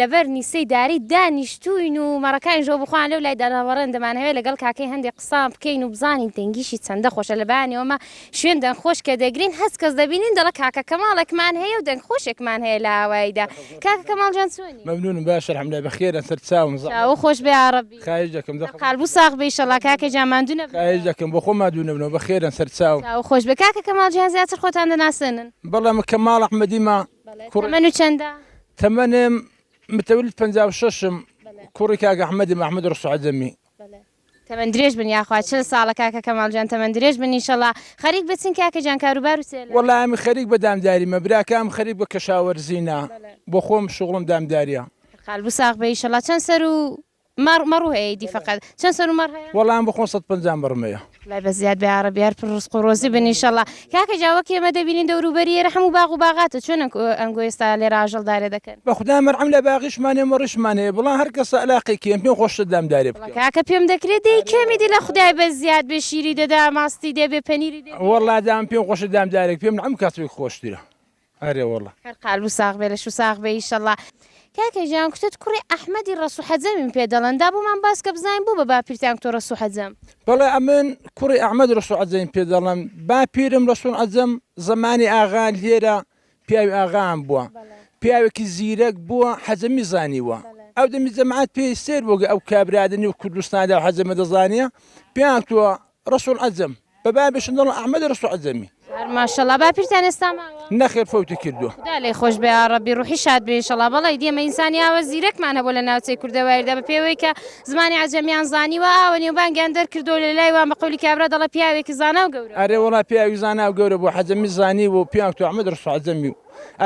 لەبەر نیسەی داری دانیشتووین و مەڕەکانیش بۆ بخۆان لەو لای داناوەڕێن، دەمانهەوێ لەگەڵ کاکەی هەندێ قسان بکەین و بزانین دەنگیشی چەندە خۆشە، لە بەیانیەوە مە شوێن دەنگ خۆش کە دەگرین هەست کەس دەبینین دەڵە کاکە کەماڵێکمان هەیە و دەنگ خۆشێکمان هەیە لە ئاواییدا، کاکە کەماڵ جان چۆنی؟ مەمنونم باشە الحمدللە بەخێرە سەر چاوم زەحمەت چاوو خۆش بێ یاڕەبی خاهیش دەکەم زەحمەت قالبو ساغ بی ئیشەڵا کاکە جان ماندو نەبنەوە. خاهیش دەکەم بۆ خۆم مادوو نەبنەوە بەخێرن سەر چاوم. چاوو خۆش بێ کاکە کەماڵ جان زیاتر خۆتان دەناسێنن؟ بەڵێ من کەماڵ ئەحمەدی مە. تەمەن و چەندە؟ تەمەنم متولد پەنجا و شەش م کوڕی کاک ئەحمەدم ئەحمەد ڕەسوو عەجەمی. تەمەن درێژ بن یاخوا چل ساڵە کاکە کەماڵ جان تەمەن درێژ بن ئینشەڵا خەریک بە چین کاکە جان کاروبار و سێلە. وەڵا ئەمن خەریک بە دامداریمە براکەم خەریک بە کەشاوەرزینە بۆ خۆم شوغڵم دامداریە. هەر قالبو ساغ بی ئیشەڵا چەن سەرو مەڕ مەڕو هەیە ئیدی فەقەت چەن سەر و مەڕ هەیە؟ وەڵام بخۆن سەد پەنجا مەڕم هەیە. لای بەس زیاد بە یاڕەبی هەر پر ڕزق و ڕۆزی بن انشاللە کاکە جا وەک ئێمە دەبینین دەورو بەری ئێرە حەموو باغ و باغاتە چۆن ئەنک ئەنگۆ ئێستا لێرە ئاژەڵ دارێ دەکەن. بە خودا مەڕم لە باغیشمان هەیە مەڕیشمان هەیە بڵام هەر کەسە ئەلاقەی کێم پێم خۆشتر دام دارێ بکەم. وەڵا کاکە پێم دەکرێ دەی کەم ئیدی لە خودای بەس زیاد بێ شیری دەدا ماستی دێ بێ پەنیری دێ بێ. وەڵا دام پێم خۆشە دام دارێک پێم نەعم کاسپێک خۆشترە ئارێ وەڵا. هەر قالبو ساغ بێ لەشو ساغ بێ ئیشەڵا. کاکە گیان کتت کوڕی ئەحمەدی ڕەسو حەجەمیم پێ دەڵێن دا بۆمان باسکە بزانین بۆ بە باپیرتان کتۆ ڕەسو حەجەم. بەڵێ ئەمن کوڕی ئەحمەد ڕەسو عەجەمیم پێ دەڵێن باپیرم ڕەسو عەجەم زەمانی ئاغا لێرە پیاوی ئاغایان بوە پیاوێکی زیرەک بوە حەجەمی زانیوە ئەو دەمی جەماعەت پێی سەیر بوگە ئەو کابرا دە نێو کوردستاندا حەجەمە دەزانێ پێیان کتوە رسول عزم بە بابیشم دەڵێن ئەحمەدی رسول عزمی. هەر ماشەڵا باپیرتان ئێستا ماوە؟ نەخێر فەوتی کردووە. خودا لێی خۆش بێ یاڕەبی ڕوحی شاد بێ ئیشەڵا بەڵێ ئیدی ئێمە ئینسانی ئاوا زیرەکمان هەبووە لە ناوچەی کوردەوایردا بە پێوەی کە زمانی عەجەمیان زانیوە ئاوە نێوبانگیان دەرکردووە لە لای وان بە قەولی کابرا دەڵێ پیاوێکی زانا و گەورە ئەرێ وەڵا پیاوی زانا و گەورە بوو حەجەمی زانیوە و پیاو تو ئەحمەد ڕسوو عەجەمی و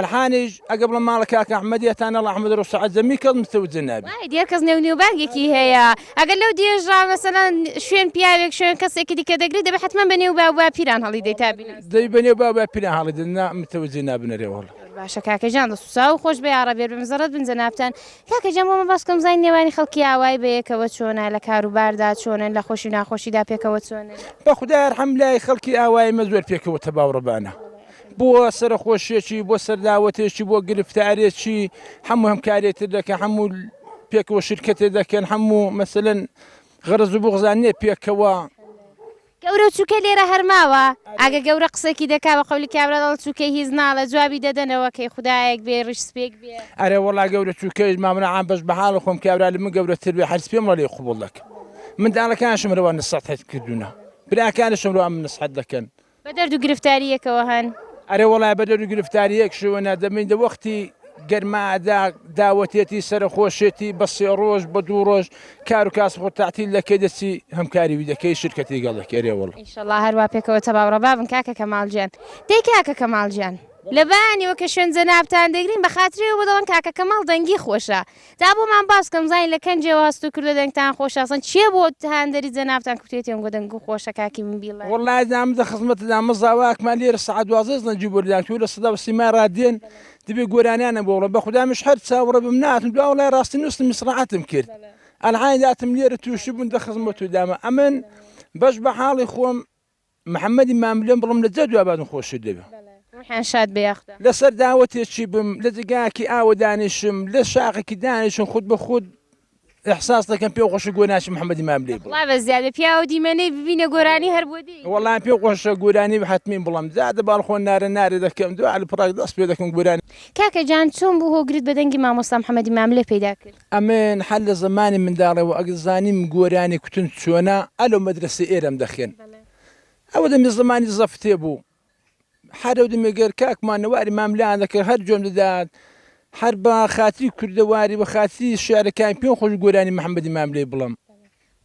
الحانیش ئەگە بڵم ماڵە کاک ئەحمەد یە تانەڵ ئەحمەد رۆ سەعەت زەمی کەڵ متەو جنەبی. وای دیار کەس نێو نێوبانگێکی هەیە ئەگەر لەو دێژا مەسەلەن شوێن پیاوێک شوێن کەسێکی دیکە دەگری دەبێ حەتمەن بە نێو باو باپیران هەڵی دەی تا بینەری. دەی بە نێو باو باپیران هەڵی دەی نا متەوجی نابنەرێ وەڵا. زۆر باشە کاکە جان دەست و چاو خۆش بێ یاڕەبی بێ مزەڕەت بن جەنابتان کاکە جان بۆمە باس کەم بزانین نێوانی خەڵکی ئاوایی بەیەکەوە چۆنە لە کارو باردا چۆنن لە خۆشی و ناخۆشیدا پێکەوە چۆنن. بەخودای ئەرحەم لای خەڵکی ئاوایی مە زۆر پێکەوە تەباو ڕەبانە. بۆ سەرەخۆشیەکی بۆ سەرلاوەتێکی بۆ گرفتارێکی هەموو هەم کارێتر دەکە هەموو پێکەوە شرکەتێ دەکەن هەموو مەسەن غەرز و بغزان نێ پێکەوە گەورە و چووکە لێرە هەر ماوە ئاگە گەورە قسەکی دەکا بە قەولی کابرا دەڵێ چووکەی هیچ ناڵێ جوابی دەدەنەوە کەی خودایەک بێ ڕیش سپێک بێ ئەرێ وەڵا گەورە چووکەی مامرە عام بەش بە حاڵ خۆم کابرا لە من گەورەتر بێ هەرس پێم وەڵێ قبوڵ دەکەم منداڵەکانشم رەوا نسەحەت کردوونە براکانشم رەوا من نسحەت دەکەن بە دەرد و گرفتارییەکەوە هەن. ئەرێ وەڵای بە دەرد و گرفتارییەکشەوە نا، دەبین دە وەختی گەرمادا داوەتێتی سەرەخۆشێتی بە سێ ڕۆژ بە دوو ڕۆژ کار و کاسب خۆ تەعتیل دەکەی دەچی هەمکاری وی دەکەی شرکەتی گەڵ دەکەی ئەرێ وەڵا. ئیشەڵا هەر وا پێکەوە تەبا و ڕەبا بن کاکە کەمال گیان. دەی کاکە کەمال گیان لە بەیانیەوە کە شوێن جەنابتان دەگرین بە خاتری ئەوە دەڵێن کاکە کەمال دەنگی خۆشە تا بۆمان باس کەن بزانین لە کەنجێوە هەست و کردوە دەنگتان خۆشە ئەسڵەن چیە بۆ هاندەری جەنابتان کورتێتی ئەم گۆ دەنگ و خۆشە کاکی من بیڵێ. وەڵا ئەزانم دە خزمەتت دام مزا وە ئەکمان لێرە سەعات دوازدە ئەزنە جوو بەردان تۆ لە سەدا و سیما ڕادێن دەبێ گۆرانیانە بۆ بڵێ بە خودا مش هەر چاوەڕێ بم ناتم دوا وەڵای ڕاستی نووستم میسڕەعەتم کرد ئەلعانی داتم لێرە تووشی بوون دە خزمەت و دامە ئەمن بەش بە حاڵی خۆم محمدی ماملێم بڵم لە جا دوابادم خۆشتر دەوێ. ڕوحیان شاد بێ یاخدا. لە سەر داوەتێکی بم لە جێگاکی ئاوە دانیشم لە شاخێکی دانیشم خود بە خود احساس دەکەم پێ خۆشە گۆرانیی محمدی ماملێ بڵێم. دەخڵا بە زیادە پیاو دیمەنەی ببینە گۆرانی هەر بۆ دێی. وەڵا پێ خۆشە گۆرانی حەتمی بڵێم جا دە باڵخۆ نارە نارە دەکەم دوعا لە پڕاک دەست پێ دەکەم گۆرانی. کاکە جان چۆن بوو هۆگرت بە دەنگی مامۆستا محمدی ماملێ پەیدا کرد؟ ئەمن هەر لە زەمانی منداڵیەوە ئەگەر زانیم گۆرانی کوتن چۆنە ئە لەو مەدرەسەی ئێرەم دەخێن ئەوە دەمی زەمانی زەفتێ بوو هەر لەو دەمێ گەر کاکمان نەواری ماملان دەکرد هەر جۆم دەدات هەر بە خاتری کوردەواری بە خاتری شارەکان پێم خۆش گۆرانی محەمەدی ماملێ بڵم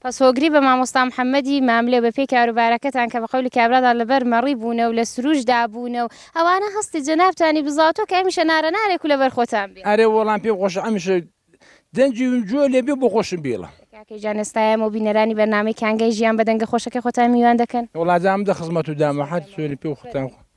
پس هۆگری بە مامۆستا محمدی ماملێ و بە پێی کاروبارەکەتان کە بە قەولی کابرادا لە بەر مەڕی بوونە و لە سرووش دابوونە و ئەوانە هەستی جەنابتانی بزاوتووە کە ئەمیشە نارە نارێک و لە بەر خۆتان بێ. ئەرێ وەڵام پێم خۆشە ئەمیشە دەنگی ون جووە لێ بێ بۆ خۆشم بیڵە. کاکە گیان ئێستا ئێمە و بینەرانی بەرنامەی کانگای ژیان بە دەنگە خۆشەکەی خۆتان میوان دەکەن. وەڵا دامدە خزمەت و دامە هەر سوێنی پێ و خوتان خۆ.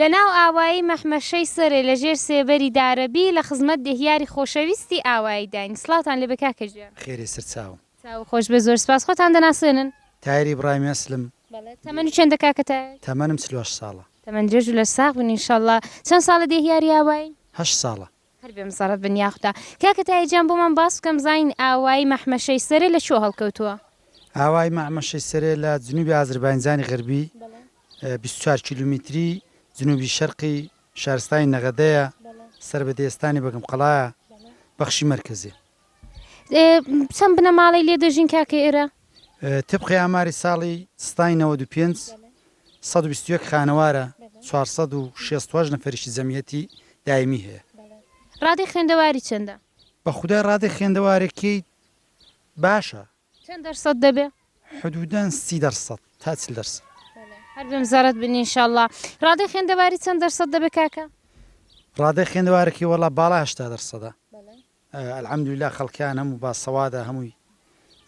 لە ناو ئاوایی مەحمەشەی سەرێ لە ژێر سێبەری دارەبی لە خزمەت دێهیاری خۆشەویستی ئاواییداین. سڵاوتان لێبێ کاکە گیان. خێرێ سەرچاو. چاوو خۆش بێ زۆر سپاس. خۆتان دەناسێنن؟ تایەر ئیبڕاهیم ئەسلم. بەڵێ تەمەن چەندە کاکە تایەر؟ تەمەنم چل و هەشت ساڵە. تەمەن درێژ و لەشساغ بن انشاللە. چەند ساڵە دێهیاری ئاوایین؟ هەشت ساڵە. هەر بێ مزەڕەت بن یاخدا. کاکە تایە جان بۆمان باس بکەم زین ئاوای مەحمەشەی سەرێ لە کوێ هەڵکەوتووە؟ ئاوای مەحمەشەی سەرێ لە جنوبی ئازرباینجانی غەربی بیست و چوار کیلومیتری جنوبی شەرقی شارستانی نەغەدەیە سەر بە دێستانی بەگمقەڵایە بەخشی مەرکەزیە. چەند بنەماڵەی لێ دەژین کاکە ئێرە؟ تبقی ئاماری ساڵی ستای نەوەد و پێنج، سەد و بیست و یەک خانەوارە، چوار سەد و شێست و هەشت نەفەریشی جەمیەتی دایمی هەیە. ڕادەی خوێندەواری چەندە؟ بە خودای ڕادەی خوێندەوارێکیی باشە. چەند دەرسەد دەبێ؟ حدودا سی دەرسەد تا چل دەرسەد. هەر بمزەرەت بن ان شاء اللە. ڕادەی خوێندەواری چەند دەرسەد دەبێ کاکە؟ ڕادەی خوێندەوارێکی وەڵا باڵا هەشتا دەرسەدە. الحمدللە خەڵکان هەموو باسەوادە هەمووی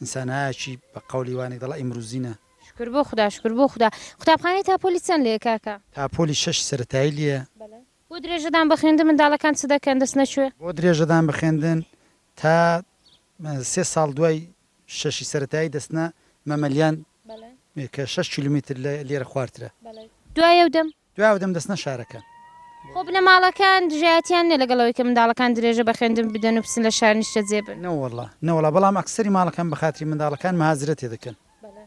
انسانایەکی بە قەولی وانێک دەڵێ ئیمروزینە. شکر بۆ خودا شکر بۆ خودا. قوتابخانەی تاپۆلی چەند لێیە کاکە؟ تاپۆلی شەش سەرەتایی لێیە. بەڵێ بۆ درێژەدان بە خوێندن منداڵەکان چ دەکەن دەست نەچوێ؟ بۆ درێژەدان بە خوێندن تا سێ ساڵ دوای شەشی سەرەتایی دەچنە مەمەلیان کە شەش کیلومیتر لە لێرە خوارترە. بەڵێ دوای ئەو دەم؟ دوای ئەو دەمدەستنە شارەکان. خۆ بنەماڵەکان دژایەتیان نیە لەگەڵ ئەوەی کە منداڵەکان درێژە بە خوێندن بدەن و بچن لە شار نیشتەجێ بن. نەوەڵا نەوەڵا بەڵام ئەکسەری ماڵەکان بە خاتری منداڵەکان مهاجرە تێ دەکەن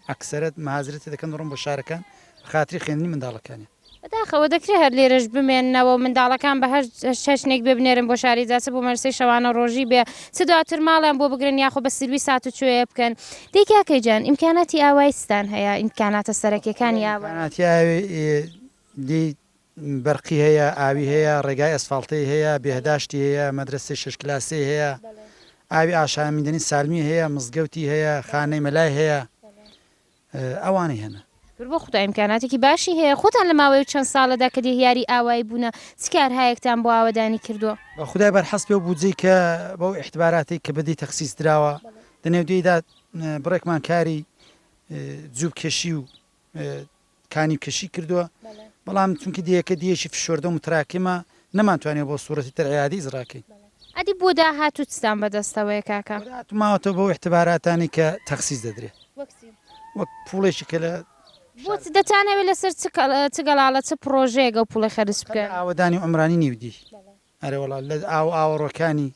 ئەکسەرەت مهاجرە تێ دەکەن دەڕۆن بۆ شارەکان بە خاتری خوێندنی منداڵەکانیان. بەداخەوە دەکرێ هەر لێرەش بمێننەوە و منداڵەکان بە هەر چەشنێک بێ بنێرن بۆ شاری جا چ بۆ مەرەسەی شەوانە ڕۆژی بێ چ دواتر ماڵیان بۆ بگرن یاخۆ بە سروی ساتوچۆیە بکەن دەی کاکە گیان ئیمکاناتی ئاوایی چتان هەیە ئیمکاناتە سەرەکیەکانی ئاوایی؟ ئیمکاناتی ئاوی ی بەرقی هەیە ئاوی هەیە ڕێگای ئەسفاڵتەی هەیە بێهداشتی هەیە مەدرەسەی شەش کلاسەی هەیە ئاوی ئاشامیدەنی سالمی هەیە مزگەوتی هەیە خانەی مەلای هەیە ئەوانەی هەنە. شکر بۆ خودا ئیمکاناتێکی باشی هەیە خۆتان لە ماوەی و چەند ساڵەدا کە دێهیاری ئاوایی بوونە چ کارهایەکتان بۆ ئاوەدانی کردووە؟ بە خودای بەرحەسب لەو بودجەی کە بەو ئیحتباراتەی کە بەدی تەخسیس دراوە لە نێودێیدا بڕێکمان کاری جوب کێشی و کانیو کێشی کردووە بەڵام چونکی دێیەکە دێیەکی فشۆردە و متراکمە نەمانتوانیوە بۆ سورەتی تر عیادیز ڕاکەین. ئەدی بۆ داهاتوو چتان بەدەستەوەیە کاکە؟ بۆ داهاتوو ماوەتەوە بەو ئیحتباراتانەی کە تەخسیس دەدرێ. وەک چی؟ وەک پوڵێکی کە لە. بۆ چ دەتانەوێ لەسەر چ چ گەڵاڵە چ پڕۆژەیەک ئەو پوڵە خەرج بکەن؟ هەر لە ئاوەدانی عومرانی نیودیهی. ئەرێ وەڵا لە ئاو و ئاوەڕۆکانی.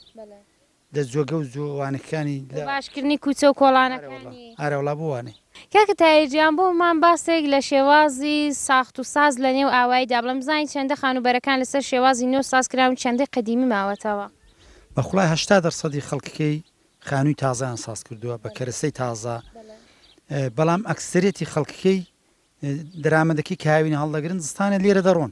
دە جۆگە و جۆ وانەکانی لە. بۆ باش کردنی کوچە و کۆڵانەکانی. ئارە وڵا بۆ وانە. کاکە تاییر گیان بۆ مان باسێک لە شێوازی ساخت و ساز لە نێو ئاوایی دا بڵێ بزانین چەندە خانووبەرەکان لە سەر شێوازی نۆ ساز کراون چەندەی قەدیمی ماوەتەوە؟ بە خوڵای هەشتا دەر سەدی خەڵککەی خانووی تازەیان ساز کردووە بە کەرەسەی تازە بەڵام ئەکسەرێتی خەڵککەی دەرامەدەکەی کاوینە هەڵدەگرن زستانێ لێرە دەڕۆن.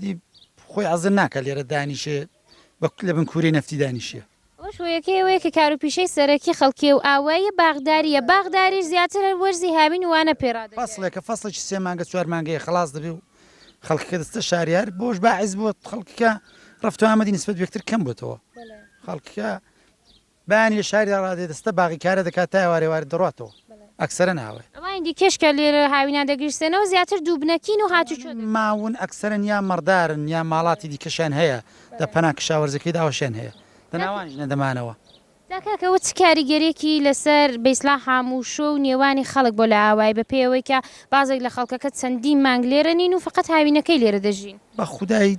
دی خۆی عەزە ناکا لێرە دانیشێ بە لە بن کوورەی نەفتی دانیشیە. ئەوەش هۆیەکەی ئەوەیە کە کاروپیشەی سەرەکی خەڵکیی و ئاواییە باغدارییە، باغداریش زیاتر هەر وەرزی هاوین و وانە پێ ڕادەگەیەنێ. فەسڵێکە، فەسڵێکی سێ مانگە چوار مانگەیە خەڵاس دەبێ و خەڵکەکە دەچتە شاریار، بەوەش باعس بووە خەڵکەکە ڕەفت و ئامەدی نسبەت بە یەکتر کەم بۆتەوە. خەڵکەکە. بەیانییە شاریدا ڕادێ دەستە باغیکارە دەکات تا ئێوارێ وارد دەڕواتەوە. ئەکسەرەن ئاوای. ئەوانی دیکەش کە لێرە هاوینان دەگیرسێنەوە زیاتر دووبنەکین و هاتوچۆ دەکەن. ماون ئەکسەرەن یا مەڕدارن یا ماڵاتی دیکەشیان هەیە لە پەنا کشاوەرزەکەیدا ئەوەشیان هەیە لە ناوانیش نەدەمانەوە. جا کاکە ئەوە چ کاریگەریەکی لەسەر بەیسڵا حاموشۆ و نێوانی خەڵک بۆ لە ئاوای بە پێیەوەی کە بازێک لە خەڵکەکە چەندین مانگ لێرە نین و فەقەت هاوینەکەی لێرە دەژین. بە خودای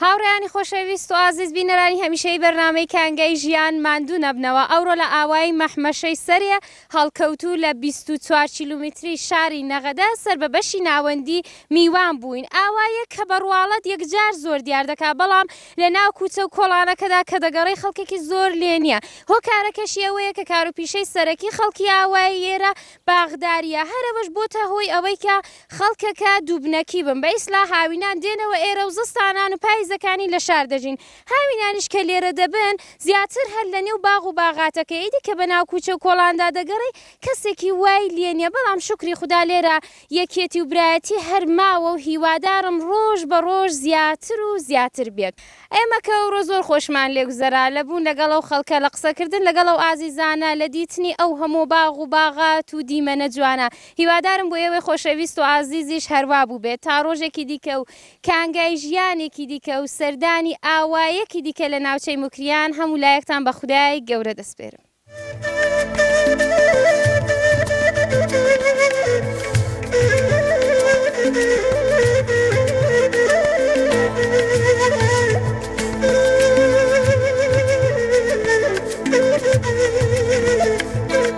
هاوڕێیانی خۆشەویست و ئازیز بینەرانی هەمیشەیی بەرنامەی کانگای ژیان ماندوو نەبنەوە ئەوڕۆ لە ئاوایی مەحمەشەی سەرێ هەڵکەوتوو لە بیست و چوار کیلومیتری شاری نەغەدە سەر بە بەشی ناوەندی میوان بووین ئاواییەک کە بە ڕواڵەت یەکجار زۆر دیار دەکا بەڵام لە ناو کوچە و کۆڵانەکەدا کە دەگەڕێی خەڵکێکی زۆر لێ نیە هۆکارەکەشی ئەوەیە کە کاروپیشەی سەرەکی خەڵکی ئاوایی ئێرە باخداریە هەر ئەوەش بۆتە هۆی ئەوەی کە خەڵکەکە دووبنەکی بن بە ئیسلا هاوینان دێنەوە ئێرە و زستانان و پایزەکانی لە شار دەژین هاوینانیش کە لێرە دەبن زیاتر هەر لە نێو باغ و باغاتەکە ئیدی کە بە ناو کوچە و کۆڵاندا دەگەڕی کەسێکی وای لێ نیە بەڵام شوکری خودا لێرە یەکیەتی و برایەتی هەر ماوە و هیوادارم ڕۆژ بە ڕۆژ زیاتر و زیاتر بێت ئێمە کە ئەوڕۆ زۆر خۆشمان لێ گوزەرا لە بوون لەگەڵ ئەو خەڵکە لە قسەکردن لەگەڵ ئەو ئازیزانە لە دیتنی ئەو هەموو باغ و باغات و دیمەنە جوانە هیوادارم بۆ ئێوەی خۆشەویست و ئازیزیش هەروا بووبێت تا ڕۆژێکی دیکە و کانگای ژیانێکی دیکە و سەردانی ئاوایەکی دیکە لە ناوچەی موکریان هەموو لایەکتان بە خودای گەورە دەسپێرم.